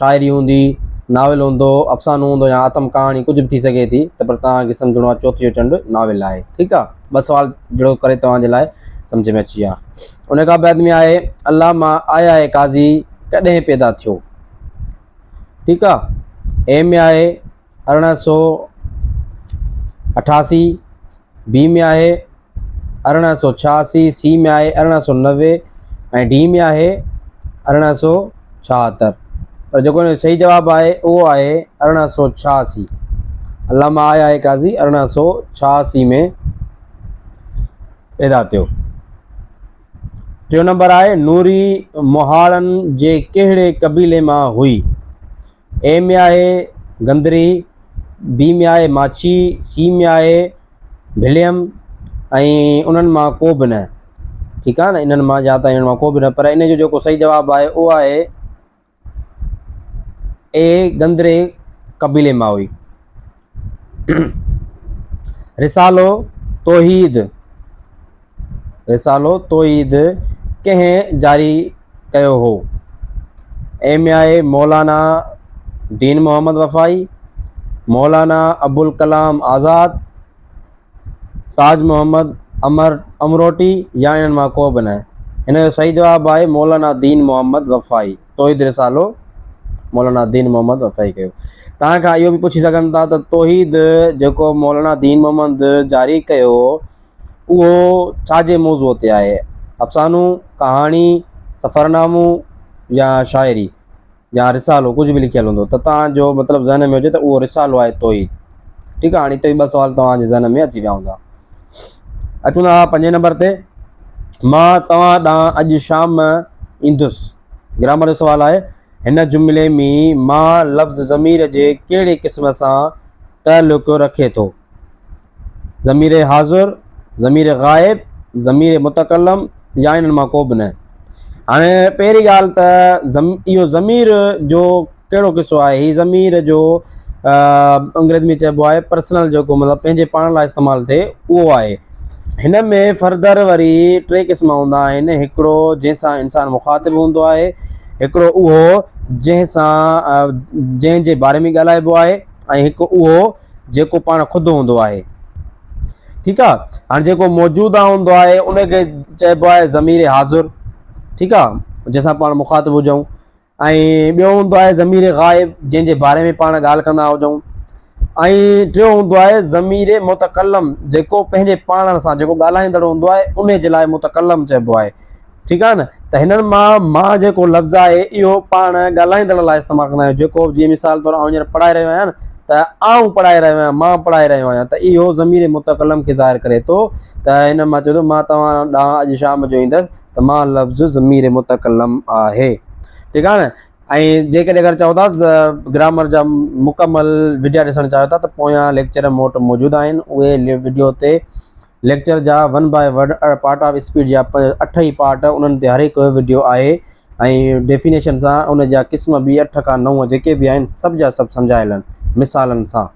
شاعري هوندي، ناول هوندو، افسانو هوندو يا آتم ڪهاڻي ڪجهه به ٿي سگهي ٿي ته پر توهان کي سمجهڻو آهي چوٿ جو چنڊ ناول آهي ٺيڪ آهي ٻه سوال جهڙوڪ ڪري توهان جي لاء سمجهه ۾ اچي ويا ان کان بعد ۾ آهي الله مان آء آء قاضي ڪڏهن پيدا ٿيو ٺيڪ آهي ايم ۾ آهي ارڙهن سو اٺاسي بي ۾ آهي ارڙهن سو ڇهاسي سي ۾ آهي ارڙهن سو نوي ۽ ڊي ۾ آهي ارڙهن سو ڇاهتر پر جيڪو هن صحيح جواب آهي اهو آهي ارڙهن سو ڇهاسي علامه آهي آهي قاضي ارڙهن سو ڇهاسي ۾ پيدا ٿيو ٽيون نمبر آهي نوري مهاڙن جي ڪهڙي قبيلي مان هئي اي ۾ آهي گندري، بي ۾ آهي ماڇي، سي ۾ آهي بليم ۽ انهن مان ڪو به نه ٺيڪ آهي نه انهن مان يا ته انهن مان ڪو به نه پر ان جو جيڪو صحيح جواب آهي اهو آهي اي گندري قبيلي مان هئي. رسالو توحيد، رسالو توحيد، ڪنهن جاري ڪيو هو؟ ايم اي آء مولانا دين محمد وفائي، مولانا ابوالڪلام آزاد، تاج محمد، امر، امروٽي يا انهن مان ڪو به نه. هن جو صحيح جواب آهي مولانا دين محمد وفائي. توحيد رسالو مولانا دين محمد وفائي ڪيو. توهان کان اهو به پڇي سگهن ٿا ته توحيد جيڪو مولانا دين محمد جاري ڪيو هو اهو ڇا جي موضوع تي آهي؟ افسانو، ڪهاڻي، سفرنامو يا شاعري؟ يا رسالو ڪجهه به لکيل هوندو ته توهان جو مطلب ذهن ۾ هجي ته اهو رسالو آهي توحيد ٺيڪ آهي هاڻي هتي ٻه سوال توهان جي ذهن ۾ اچي ويا هوندا اچون ٿا پنجين نمبر تي مان توهان ڏانهن اڄ شام ايندس گرامر جو سوال آهي هن جملي ۾ مان لفظ ضمير جي ڪهڙي قسم سان تعلق رکي ٿو ضمير حاضر، ضمير غائب، ضمير متڪلم يا انهن مان ڪو به نه. هاڻي پهرين ڳالهه ته ضم اهو ضمير جو ڪهڙو قصو آهي هي ضمير جو انگريزي ۾ چئبو آهي پرسنل جيڪو مطلب پنهنجي پاڻ لاء استعمال ٿئي اهو آهي هن ۾ فردر وري ٽي قسم هوندا آهن هڪڙو جنهن سان انسان مخاطب هوندو آهي هڪڙو اهو جنهن سان جنهن جي باري ۾ ڳالهائبو آهي ۽ هڪ اهو جيڪو پاڻ خود هوندو آهي. ٺيڪ آ هاڻي جيڪو موجوده هوندو آهي ان کي چئبو آهي ضمير حاضر ٺيڪ آ جنهن سان پاڻ مخاطب هجون ۽ ٻيو هوندو آهي ضمير غائب جنهن جي باري ۾ پاڻ ڳالهه ڪندا هجون ۽ ٽيون هوندو آهي ضمير متڪلم جيڪو پنهنجي پاڻ سان جيڪو ڳالهائيندڙ هوندو آهي ان جي لاء متڪلم چئبو آهي ٺيڪ آهي نه ته هنن مان مان جيڪو لفظ آهي اهو پاڻ ڳالهائيندڙ لاء استعمال ڪندا آهيون جيڪو جي مثال طور آئون هينئر پڙهائي رهيو آهيان ته آئون پڙهائي رهيو آهيان مان پڙهائي رهيو آهيان ته اهو ضمير متڪلم کي ظاهر ڪري ٿو ته هن مان چئي ٿو مان توهان ڏانهن اڄ شام جو ايندس ته مان لفظ ضمير متڪلم آهي ٺيڪ آهي نه ۽ جيڪڏهن اگر چئو ٿا گرامر جا مڪمل وڊيا ڏسڻ چاهيو ٿا ته پويان ليڪچر موٽ موجود آهن اهي وڊيو تي ليڪچر جا one by word part of speech جا اٺ ئي پارٽ انهن تي هر هڪ وڊيو آهي ۽ ڊيفينيشن سان ان جا قسم به اٺ کان نو جيڪي به آهن سڀ جا سڀ سمجهايل آهن مثالن سان.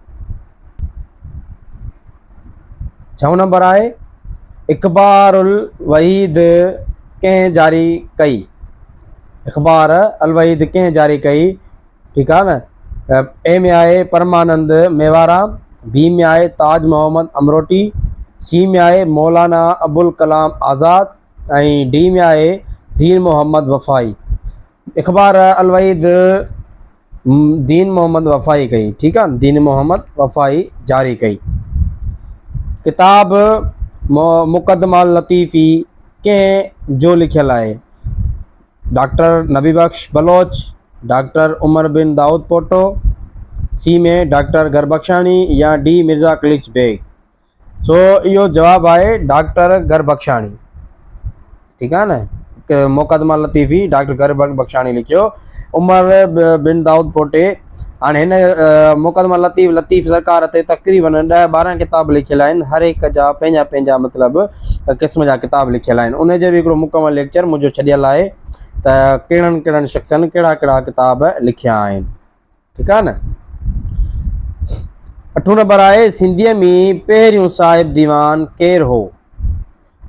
ڇهون نمبر آهي اخبار الوحيد ڪنهن جاري ڪئي؟ اخبار الوحيد ڪنهن جاري ڪئي؟ ٺيڪ آهي نه. اي ۾ آهي پرمانند ميوارام، بي ۾ آهي تاج محمد امروٽي، سي ۾ آهي مولانا ابوالڪلام آزاد ۽ ڊي ۾ آهي دين محمد وفائي. اخبار الوحيد دين محمد وفائي ڪئي ٺيڪ آهي نه دين محمد وفائي جاري ڪئي. ڪتاب مقدمه اللطيفي ڪنهن جو لکيل آهي؟ ڊاڪٽر نبي بخش بلوچ، ڊاڪٽر عمر بن دائود پوٽو، سي ۾ ڊاڪٽر گربخشاڻي يا ڊي مرزا قليچ بيگ؟ سو اهو جواب آهي ڊاڪٽر گربخشاڻي. ٺيڪ آهي نه مقدمه لطيفي ڊاڪٽر گربخشاڻي لکيو عمر بن دائود پوٽي. هاڻ هن مقدمه لطيف لطيف سرڪار تي تقريباً ڏهه ٻارهن ڪتاب لکيل آهن هر هڪ جا پنهنجا پنهنجا مطلب قسم جا ڪتاب لکيل آهن ان جو به هڪڙو مڪمل ليڪچر منهنجو ڇڏيل آهي ته ڪهڙن ڪهڙن شخصن ڪهڙا ڪهڙا ڪتاب لکيا آهن ٺيڪ آهي نه اٺون نمبر آهي سنڌيء ۾ پهريون صاحب ديوان ڪير هو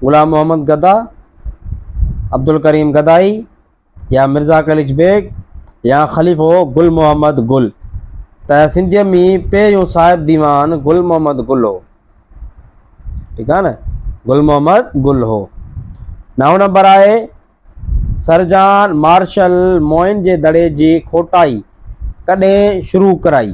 غلام محمد گدا عبدالڪريم گدائي يا مرزا قليچ بيگ يا خليفو گل محمد گل ته سنڌيء ۾ پهريون صاحب ديوان گل محمد گل هو ٺيڪ آهي نه گل محمد گل هو نو نمبر آهي سرجان مارشل موئن جي دڙي جي کوٽائي ڪڏهن شروع ڪرائي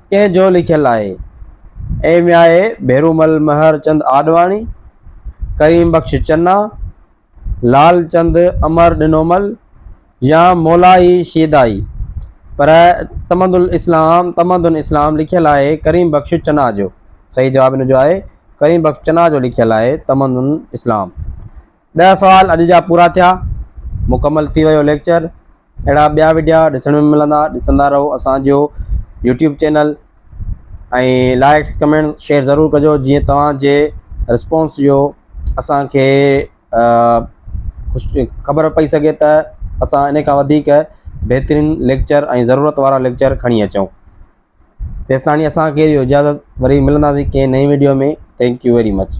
ڪنهن جو لکيل آهي؟ اي مياهي ڀيرومل مهر چند آڏواڻي، ڪريم بخش چنا، لال چند امر ڏنومل يا مولائي شيدائي پر تمد الاسلام تمدن اسلام لکيل آهي ڪريم بخش چنا جو صحيح جواب ان جو آهي ڪريم بخش چنا جو لکيل آهي تمدن اسلام. ڏهه سوال اڄ جا پورا ٿيا مڪمل ٿي ويو ليڪچر اهڙا ٻيا وڊيا ڏسڻ ۾ ملندا ڏسندا رهو اسانجو YouTube channel ۽ likes comment share ضرور ڪجو جيئن توهانجي رسپونس جو اسانکي خوشي خبر پئي سگهي ته اسان ان کان وڌيڪ بهترين ليڪچر ۽ ضرورت وارا ليڪچر کڻي اچون تيستائين اسانکي اجازت وري ملنداسين ڪنهن نئين video ۾ thank you very much